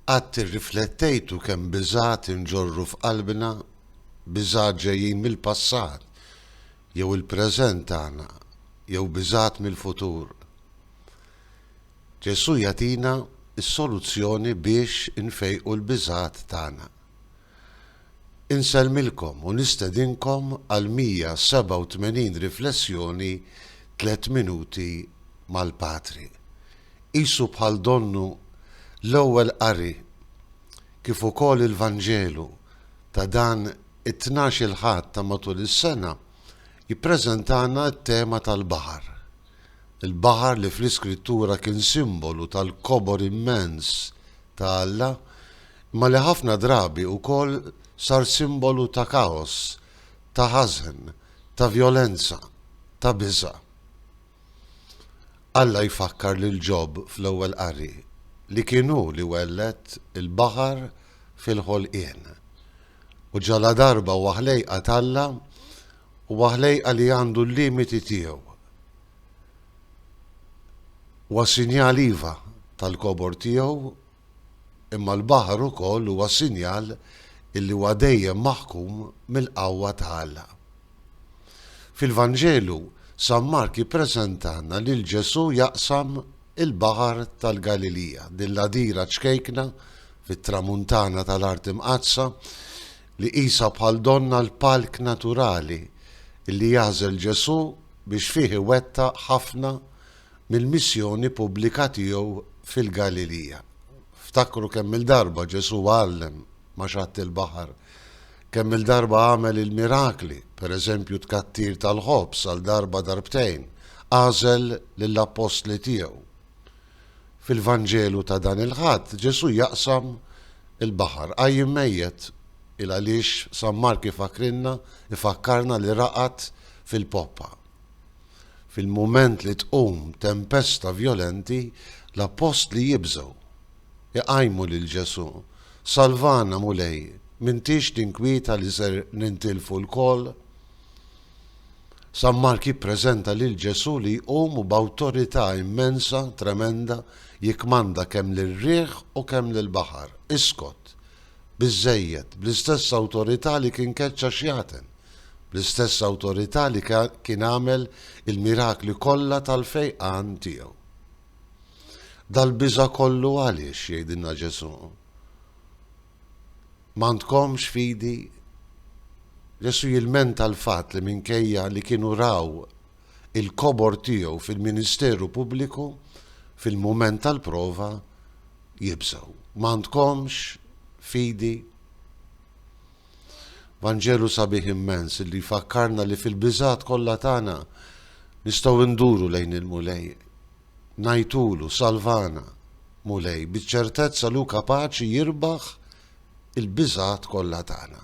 Qatt irriflettejtu kemm biżgħat inġorru f'qalbna, biżgħat ġejjin mill-passat jew il-preżent tagħna jew biżgħat mill-futur? Ġesù jagħtina s-soluzzjoni biex infejqu l-biżgħat tagħna. Insellmilkom u nistedinkom għal 187 riflessjoni Tliet Minuti mal-Patri. Qisu bħal donnu l-ewwel qari kif ukoll il-Vanġelu ta' dan it-Tnax-il Ħadd ta' matul is-sena jippreżentana t-tema tal-baħar. Il-baħar li fl-Iskrittura kien simbolu tal-kobor immens ta' Alla, imma li ħafna drabi wkoll sar simbolu ta' kaos, ta' ħażen, ta' vjolenza, ta' biża'. Alla jfakkar lil Ġob fl-ewwel qari li kien hu li welled il-baħar fil-ħolqien. U ġaladarba huwa ħlejqa t'Alla, Huwa ħlejqa li għandu l-limiti tiegħu. Huwa sinjal iva tal-kobor tiegħu, imma l-baħar ukoll huwa sinjal illi huwa dejjem maħkum mill-qawwa ta' Alla. Fil-Vanġelu, San Mark jippreżentalna lil Ġesù jaqsam il-Baħar tal-Galilija, din l-għadira ċkejkna fit-Tramuntana tal-Art Imqaddsa, li qisha bħal donnha l-palk naturali li jagħżel Ġesù biex fih iwettaq ħafna mill-missjoni pubblika tiegħu fil-Galilija. Ftakru kemm-il darba Ġesù għallem ma' xatt il-baħar, kemm-il darba għamel il-mirakli, pereżempju t-tkattir tal-ħobż għal darba darbtejn, għażel lill-appostli tiegħu. Fil-Vanġelu ta' dan il-Ħadd, Ġesù jaqsam il-baħar, iqajjem mejjet. Il għaliex San Mark ifakkrilna, ifakkarna li raqad fil-poppa. Fil-mument li tqum tempesta vjolenti, l-Appostli jibżgħu. Iqajmu lil Ġesù, Salvana, Mulej, m'intix tinkwieta li ser nintilfu lkoll? San Mark jippreżenta lil Ġesù li jqum u b'awtorità immensa, tremenda, jikkmanda kemm lir-riħ u kemm lill-baħar, Iskot! Biżżejjed! bl-istess awtorità li kien keċċa xjaten, bl-istess awtorità li kien għamel il-mirakli kollha tal-fejqan tiegħu. Dal-biża' kollu għaliex, jgħidilna Ġesù? M'għandkomx fidi? Ġesù jilmenta l-fatt li minkejja li kienu raw il-kobor tiegħu fil-ministeru pubbliku, fil-mument tal-prova jibżgħu. M'għandkomx fidi? Vanġelu sabiħ immens li jfakkarna li fil-biżgħat kollha tagħna nistgħu nduru lejn il-Mulej. Ngħidtulu, Salvana, Mulej, biċ-ċertezza li hu kapaċi jirbaħ il-biżgħat kollha tagħna.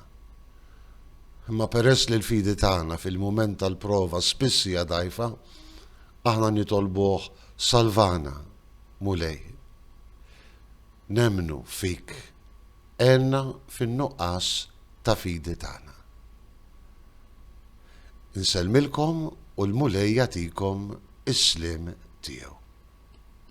Imma peress li l-fidi tagħna fil-mument tal-prova spiss hija dgħajfa, aħna nitolbuh, Salvana, Mulej. Nemmnu fik, għenna fin-nuqqas ta' fidi tagħna. Insellmilkom u l-Mulej jagħtikom is-sliem tiegħu.